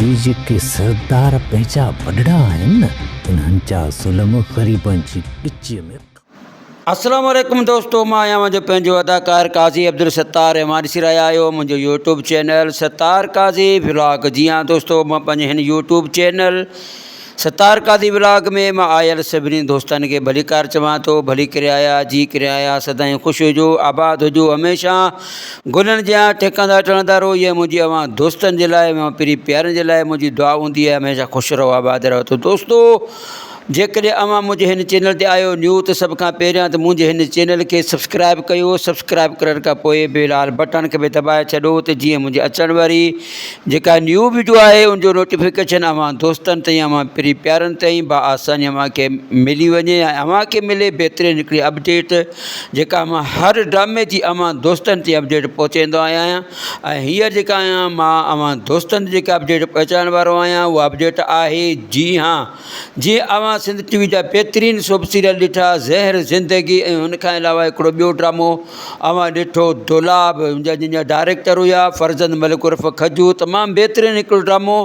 اهي جيڪي سردار پنهنجا وڏڙا آهن نه انهن جا ظلم غريبن جي ڳچيء ۾ ڪا. اسلام عليڪم دوستو مان آهيان اوهانجو پنهنجو اداڪار قاضي عبدالستار اوهان ڏسي رهيا آهيو منهنجو YouTube channel Sattar Qazi vlog جي ها دوستو مان پنهنجي هن YouTube channel Sattar Qazi vlog ۾ مان آيل سڀني دوستن کي ڀليڪار چوان ٿو ڀلي ڪريايا جي ڪريايا سدائين خوش هجو آباد هجو هميشه گلن جيان ٽهڪندا ٽڻندا رهو اها منهنجي اوهان دوستن جي لاء اوهان پري پيارن جي لاء منهنجي دعا هوندي آهي هميشه خوش رهو آباد رهو ته دوستو جيڪڏهن اوهان منهنجي هن چينل تي آيو نيو ته سڀ کان پهريان ته منهنجي هن چينل کي سبسڪرائب ڪيو سبسڪرائب ڪرڻ کان پوء بي لال بٽن کي به دٻائي ڇڏو ته جيئن منهنجي اچڻ واري جيڪا نيو ويڊيو آهي ان جو نوٽيفڪيشن اوهان دوستن تائين اوهان پري پيارن تائين با آساني اوهان کي ملي وڃي ۽ اوهان کي ملي بهترين هڪڙي اپڊيٽ جيڪا اوهان هر ڊرامي جي اوهان دوستن تي اپڊيٽ پهچائيندو آهيان ۽ هيء جيڪا آهيان مان اوهان دوستن جيڪا اپڊيٽ پهچائڻ وارو آهيان اهو اپڊيٽ آهي جي هان جي اوهان سنڌ ٽي وي جا بهترين سوپ سيريل ڏٺا زهر زندگي ۽ هن کان علاوه هڪڙو ٻيو ڊرامو اوهان ڏٺو دولاب جنهن جا ڊائريڪٽر هيا فرزند ملڪ عرف کجو تمام بهترين هڪڙو ڊرامو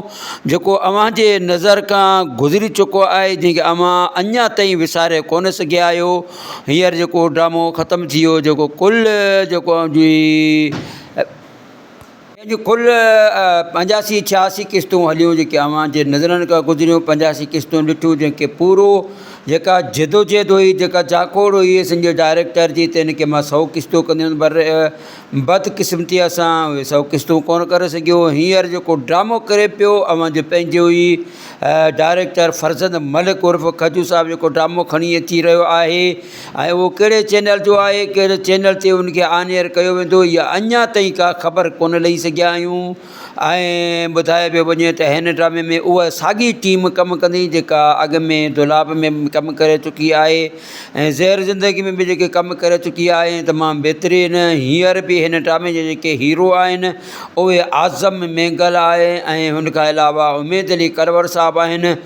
جيڪو اوهان جي نظر کان گذري چڪو آهي جنهن کي اوهان اڃا تائين وساري ڪونه سگهيا آهيو هينئر جيڪو ڊرامو ختم ٿي ويو جيڪو ڪل جيڪو اوهان جي جنهن جون ڪل پنجاسي ڇياسي قسطون هليون جيڪي اوهان جي نظرن کان گذريون پنجاسي قسطون ڏٺيون جنهن کي پورو جيڪا جدوجهد هئي جيڪا جاکوڙ هئي اسان جي ڊائريڪٽر جي ته ان کي مان سؤ قسطون ڪندي هيم پر بدقسمتيء سان اهي سؤ قسطون ڪونه ڪري سگهيو هينئر جيڪو ڊرامو ڪري پيو اوهان جي پنهنجو ئي ڊائريڪٽر فرزند ملڪ عرف کجو صاحب جيڪو ڊرامو کڻي اچي رهيو آهي ۽ اهو ڪهڙي چينل جو آهي، ڪهڙي چينل تي ان کي آن ايئر ڪيو ويندو اها اڃا تائين ڪا خبر ڪونه ڏئي سگهيا آهيون ۽ ٻڌايو پيو وڃي ته هن ڊرامي ۾ اها ساڳي ٽيم ڪم ڪندي جيڪا اڳ ۾ دولاب ۾ به ڪم ڪري چڪي آهي ۽ زهر زندگي ۾ به جيڪي ڪم ڪري چڪي آهي ۽ تمام بهترين هينئر به هن ڊرامي جا جيڪي هيرو آهن اهي اعظم مينگل آهي ۽ ان کان علاوه اميد علي ڪرور صاحب آهن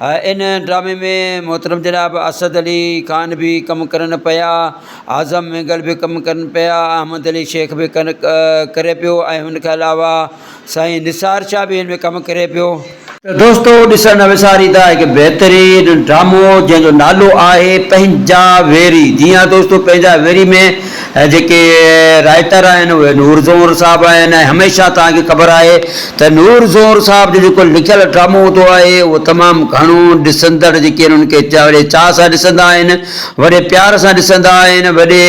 ان ڊرامي ۾ محترم جناب اسد علي خان به ڪم ڪرن پيا، اعظم مينگل به ڪم ڪرن پيا، احمد علي شيخ به ڪن ڪري پيو ۽ ان کان علاوه سائين نثار شاهه به ان ۾ ڪم ڪري پيو. ته دوستو ڏسڻ نه وساريندا هڪ بهترين ڊرامو جنهن جو نالو آهي پنهنجا ويري جي ها دوستو پنهنجا ويري ۾ ۽ جيڪي رائٽر آهن اهي نور زهور صاحب آهن ۽ هميشه توهان کي خبر آهي ته نور زهور صاحب جو جيڪو لکيل ڊرامو هوندو آهي اهو تمام گهڻو ڏسندڙ جيڪي آهن انهن کي وڏي چاهه سان ڏسندا آهن وڏي پيار سان ڏسندا آهن وڏي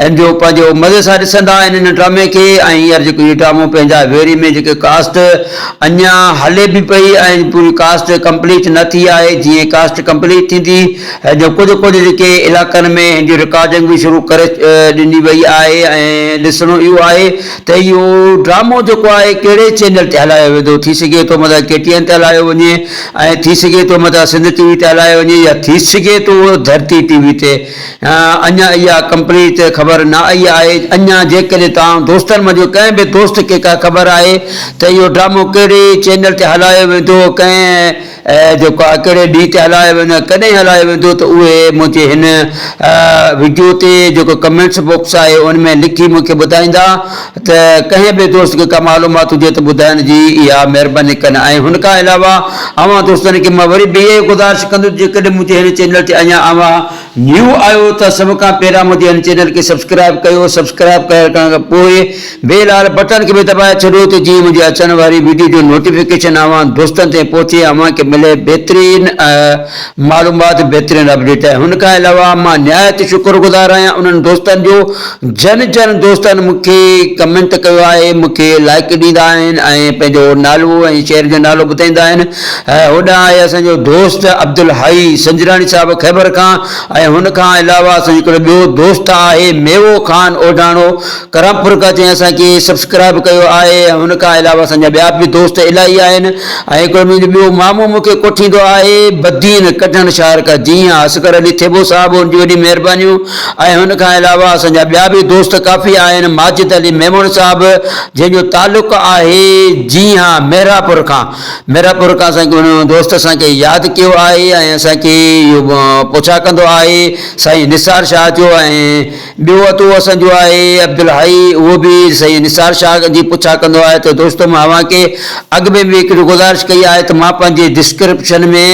ان جو پنهنجو مزي سان ڏسندا آهن ان ڊرامي کي ۽ هينئر جيڪو هي ڊرامو پنهنجا ويري ۾ جيڪي ڪاسٽ اڃان هلي به پئي ۽ پوري ڪاسٽ ڪمپليٽ نه ٿي آهي جيئن ڪاسٽ ڪمپليٽ ٿيندي هن جون ڪجهه ڪجهه جيڪي علائقن ۾ هن جي رڪارڊنگ به شروع ڪري ڏني وئي آهي ۽ ڏسڻو اهو آهي ته اهو ڊرامو جيڪو آهي ڪهڙي چينل تي هلايو ويندو ٿي سگهي ٿو مطلب ڪي ٽي اين تي هلايو وڃي ۽ ٿي سگهي ٿو مطلب سنڌ ٽي وي تي هلايو وڃي يا ٿي سگهي ٿو ڌرتي ٽي وي تي اڃا اها ڪمپليٽ خبر نه آئي آهي اڃا جيڪڏهن توهان دوستن منجهه ڪنهن به دوست کي ڪا خبر آهي ته اهو ڊرامو ڪهڙي چينل تي هلايو ويندو ڪنهن اي جو ڪا ڪهڙي ڏينهن تي هلايو ويندو ڪڏهن هلايو ويندو ته اهي منهنجي هن وڊيو تي جيڪو ڪمينٽس بوڪس آهي ان ۾ لکي مون کي ٻڌائيندا ته ڪنهن به دوست کي ڪا معلومات هجي ته ٻڌائڻ جي اها مهرباني ڪن ۽ هن کان علاوه اوهان دوستن کي مان وري به اها ئي گذارش ڪندس جيڪڏهن منهنجي هن چينل تي اڃا اوهان نيو آهيو ته سڀ کان پهريان منهنجي هن چينل کي سبسڪرائب ڪيو سبسڪرائب ڪرڻ کان پوء بيل آل بٽڻ کي به دٻائي ڇڏيو ته جيئن منهنجي اچڻ واري ويڊيو جو نوٽيفڪيشن اوهان دوستن تائين پهچي ۽ اوهان کي ملي بهترين معلومات بهترين اپڊيٽ هن کان علاوه مان نهايت شڪر گذار آهيان انهن دوستن جو جن جن دوستن مون کي ڪمينٽ ڪيو آهي مون کي لائڪ ڏيندا آهن ۽ پنهنجو نالو ۽ شهر جو نالو ٻڌائيندا آهن هوڏانهن آء اسان جو دوست عبدالحئي سنجراڻي صاحب خيبر کان ۽ هن کان علاوه اسان جو هڪڙو ٻيو دوست آهي ميوو خان اوڍاڻو ڪرامپور کان جنهن اسان کي سبسڪرائب ڪيو آهي ۽ هن کان علاوه اسان جا ٻيا به دوست الاهي آهن ۽ هڪڙو منهنجو ٻيو مامو مون کي ڪوٺيندو آهي بدين ڪڍڻ شهر کان جي ها اصغر علي ٿيٻو صاحب هن جون وڏيون مهربانيون ۽ هن کان علاوه اسان جا ٻيا به دوست ڪافي آهن ماجد علي ميمڻ صاحب جنهن جو تعلق آهي جي ها مهراپور کان ميرا پورڪا اسان کي هن دوست اسان کي ياد ڪيو آهي ۽ اسان کي اهو پڇا ڪندو آهي سائين نثار شاهه جو ۽ ٻيو اتو اسان جو آهي عبدالحئي اهو به سائين نثار شاهه جي پڇا ڪندو آهي ته دوستو مان اوهان کي اڳ ۾ به هڪڙي گذارش ڪئي آهي ته مان پنهنجي ڊسڪرپشن ۾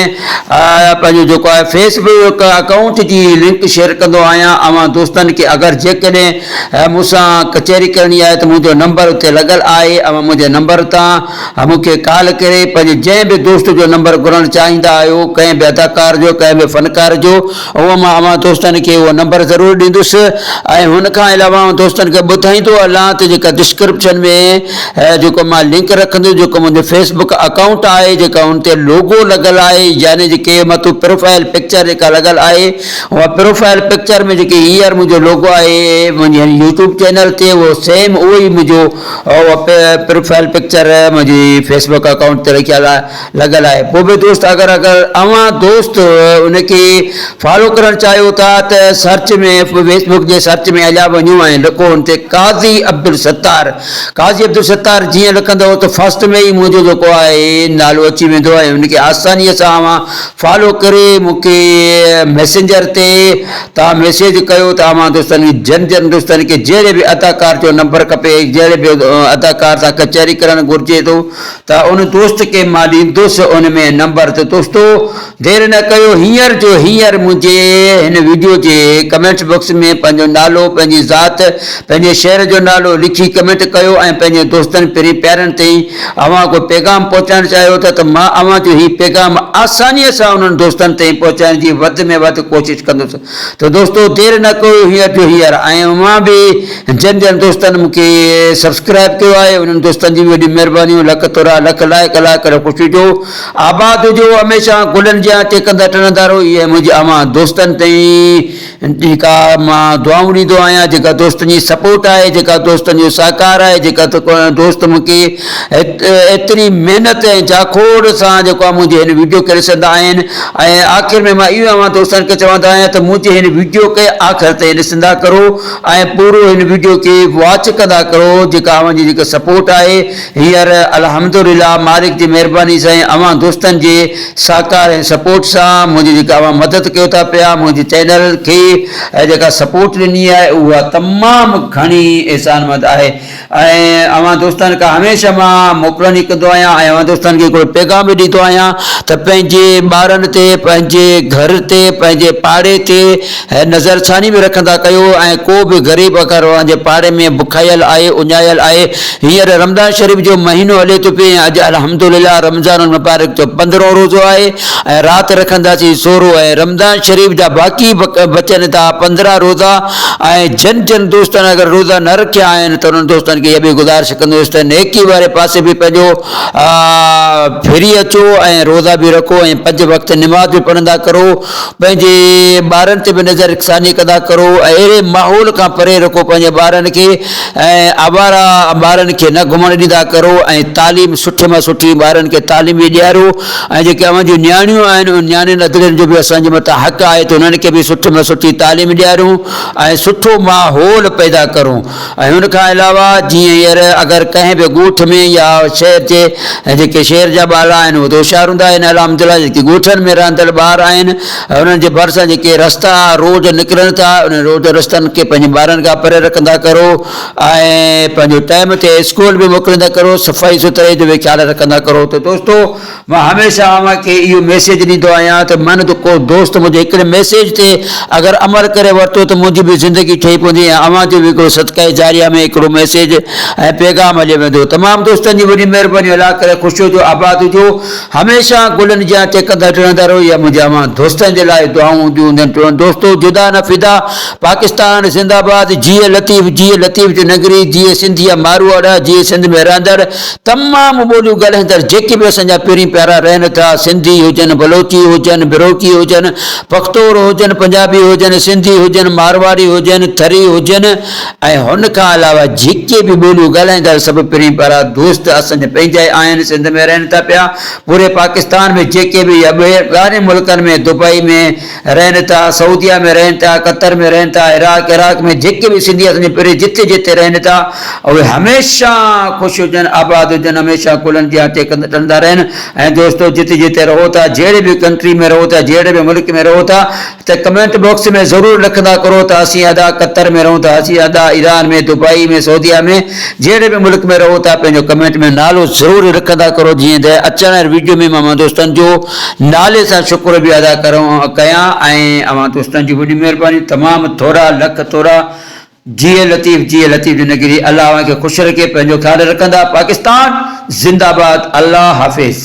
پنهنجو جيڪو آهي فيس بڪ اڪائونٽ جي لنڪ شيئر ڪندو آهيان اوهان دوستن کي اگر جيڪڏهن مون سان ڪچهري ڪرڻي آهي ته منهنجو نمبر اتي لڳل آهي اوهان منهنجي نمبر تان مون کي ڪال ڪري پنهنجي جنهن به دوست جو نمبر گهرڻ چاهيندا آهيو ڪنهن به اداڪار جو ڪنهن به فنڪار جو اهو مان اوهان دوستن کي اهو نمبر ضرور ڏيندس ۽ هن کان علاوه اوهان دوستن کي ٻڌائيندو هلان ته جيڪا ڊسڪرپشن ۾ جيڪو مان لنڪ رکندس جيڪو منهنجو فيس بڪ اڪائونٽ آهي جيڪا ان تي لوگو لڳل آهي يعني جيڪي مٿو پروفائل پڪچر جيڪا لڳل آهي اها پروفائل پڪچر ۾ جيڪي هينئر منهنجو لوگو آهي منهنجي يوٽيوب چينل تي اهو سيم اهو ئي منهنجو اهو پروفائيل پڪچر منهنجي فيس بڪ اڪائونٽ تي رکيل آهي لڳل آهي پوء به دوست اگر اگر اوهان دوست ان کي فالو ڪرڻ چاهيو ٿا ته سرچ ۾ فيس بڪ جي سرچ ۾ هليا وڃو ۽ لکو ان تي قاضي عبدالستار قاضي عبدالستار جيئن لکندو ته فرسٽ ۾ ئي منهنجو جيڪو آهي نالو اچي ويندو ۽ ان کي آساني سان اوهان فالو ڪري مون کي ميسنجر تي تان ميسيج ڪيو ته اوهان دوستن کي جن جن دوستن کي جهڙي به اداڪار جو نمبر کپي ۽ جهڙي به اداڪار سان ڪچهري ڪرڻ گهرجي ٿو ته ان دوست کي مان ڏيندس ان ۾ نمبر ته دوستو دير نه ڪيو هينئر جو هينئر منهنجي هن وڊيو جي ڪمينٽس بوڪس ۾ پنهنجو نالو پنهنجي ذات پنهنجي شهر جو نالو لکي ڪمينٽ ڪيو ۽ پنهنجي دوستن پرين پيارن تائين اوهان ڪو پيغام پهچائڻ چاهيو ٿا ته مان اوهان جو هي پيغام آسانيء سان انهن دوستن تائين پهچائڻ جي وڌ ۾ وڌ ڪوشش ڪندس ته دوستو دير نه ڪيو هينئر جو هينئر ۽ اوهان به جن جن دوستن مون کي سبسڪرائيب ڪيو آهي انهن دوستن جي به وڏيون مهربانيون لک ٿورا لک لائق لائق ڪريو خوش هجو آباد هجو هميشه گلن جيان ٽهڪندا ٽڻندا رهو اها منهنجي اوهان دوستن تائين جيڪا مان دعائون ڏيندو آهيان، جيڪا دوستن جي سپورٽ آهي، جيڪا دوستن جو سهڪار آهي، جيڪا دوست مون کي ايتري محنت ۽ جاکوڙ سان جيڪو آهي منهنجي هن ويڊيو کي ڏسندا آهن ۽ آخر ۾ مان اهو اوهان دوستن کي چوندو آهيان ته منهنجي هن ويڊيو کي آخر تائين ڏسندا ڪرو ۽ پورو هن ويڊيو کي واچ ڪندا ڪرو جيڪا اوهان جي جيڪا سپورٽ آهي هينئر الحمدلله مالڪ جي مهرباني سان ۽ اوهان دوستن جي ساهڪار ۽ سپورٽ سان منهنجي جيڪا اوهان مدد ڪيو ٿا پيا منهنجي چينل کي جيڪا سپورٽ ڏني آهي اها تمام گهڻي احسان مند آهي ۽ اوهان دوستن کان هميشه مان موڪلون ئي ڪندو آهيان ۽ اوهان دوستن کي هڪڙو پيغام به ڏيندو آهيان ته پنهنجي ٻارن تي پنهنجي گهر تي پنهنجي پاڙي تي هي نظر ڇاني ۾ رکندا ڪيو ۽ ڪو به غريب اگر اوهان جي پاڙي ۾ بکايل آهي، اڃايل آهي، هينئر رمضان شريف جو مهينو هلي ٿو پئي ۽ اڄ الحمدلله رمضان المبارڪ جو پندرهون روزو آهي ۽ رات رکنداسين سورهو ۽ رمضان شريف جا باقي بچن ٿا پندرهن روزا ۽ جن جن دوستن اگر روزا نه رکيا آهن ته انهن دوستن کي اها به گذارش ڪندس ته نيڪي واري پاسي به پنهنجو ڦري اچو ۽ روزا به رکو ۽ پنج وقت نماز به پڙهندا ڪرو. پنهنجي ٻارن تي به نظر ثاني ڪندا ڪرو ۽ اهڙي ماحول کان پري رکو پنهنجي ٻارن کي ۽ آوارا ٻارن کي نه گهمڻ ڏيندا ڪرو ۽ تعليم سٺي مان سٺي ٻارن کي تعليم به ڏياريو ۽ جيڪي اوهان جون نياڻيون آهن ان نياڻين ادڙين جو به اسان جي مٿان حق آهي ته انهن کي به سٺي مان سٺي تعليم ڏياريون ۽ سٺو ماحول پيدا ڪرون. ۽ ان کان علاوه جيئن هينئر اگر ڪنهن به ڳوٺ ۾ يا شهر جي جيڪي شهر جا ٻارڙا آهن اهي ته هوشيار هوندا آهن الحمد لله جيڪي ڳوٺن ۾ رهندڙ ٻار آهن انهن جي ڀرسان جيڪي رستا روڊ نڪرن ٿا انهن روڊ رستن کي پنهنجي ٻارن کان پري رکندا ڪرو ۽ پنهنجو ٽائيم تي اسڪول به موڪليندا ڪرو صفائي سٿرائي جو به خيال رکندا ڪرو ته دوستو مان هميشه اوهان کي اهو ميسيج ڏيندو آهيان ته من ته ڪو دوست منهنجي هڪڙي ميسيج تي اگر عمل ڪري ورتو ته منهنجي به زندگي ٺهي پوندي ۽ اوهان جو به هڪڙو صدقه جاريه ۾ هڪڙو ميسيج ۽ پيغام هليو ويندو تمام دوستن جي وڏي مهرباني الله ڪري خوش هجو آباد هجو هميشه گلن جيان ٽهڪندا ٽڙندا رهو اها منهنجي اوهان دوستن جي لاء دعائون هونديون هوندين ٽوئن دوستو جدا نه فدا پاڪستان زنده آباد جيئي لطيف جيئي لطيف جو ننگري جيئي سنڌيا ماروئڙا جيئي سنڌ ۾ رهندڙ تمام ٻوليون ڳالهائيندڙ جيڪي به اسان جا پيرين پيارا رهن ٿا، سنڌي هجن، بلوچي هجن، بروڪي هجن، پختور هجن، پنجابي هجن، سنڌي هجن، مارواري هجن، ٿري هجن ۽ هن کان علاوه جيڪي به ٻوليون ڳالهائيندڙ سڀ پيرين پيارا دوست اسان جا پنهنجا ئي آهن، سنڌ ۾ رهن ٿا پيا، پوري پاڪستان ۾ جيڪي به يا ٻاهرين ملڪن ۾ دبئي ۾. رهن ٿا سعوديه ۾ رهن ٿا قطر ۾ رهن ٿا عراق عراق ۾ جيڪي به سنڌي اسان جي پري جتي جتي رهن ٿا اهي هميشه خوش هجن آباد هجن هميشه ڪلهن جي آٽي ڪنڌ ٽندا رهن ۽ دوستو جتي جتي رهو ٿا جهڙي به ڪنٽري ۾ رهو ٿا جهڙي به ملڪ ۾ رهو ٿا ته ڪمينٽ باڪس ۾ ضرور لکندا ڪرو ته اسين ادا قطر ۾ رهون ٿا اسين ادا ايران ۾ دبئي ۾ سعوديه ۾ جهڙي به ملڪ ۾ رهو ٿا پنهنجو ڪمينٽ ۾ نالو ضرور لکندا ڪرو جيئن ته اچڻ واري ويڊيو ۾ مان دوستن جو نالي سان شڪر به ادا ڪيان ۽ اوهان دوستن جي وڏي مهرباني تمام ٿورا لک ٿورا جيئي لطيف جيئي لطيف جي نگري الله اوهان کي خوش رکي پنهنجو خيال رکندا پاڪستان زنده باد الله حافظ.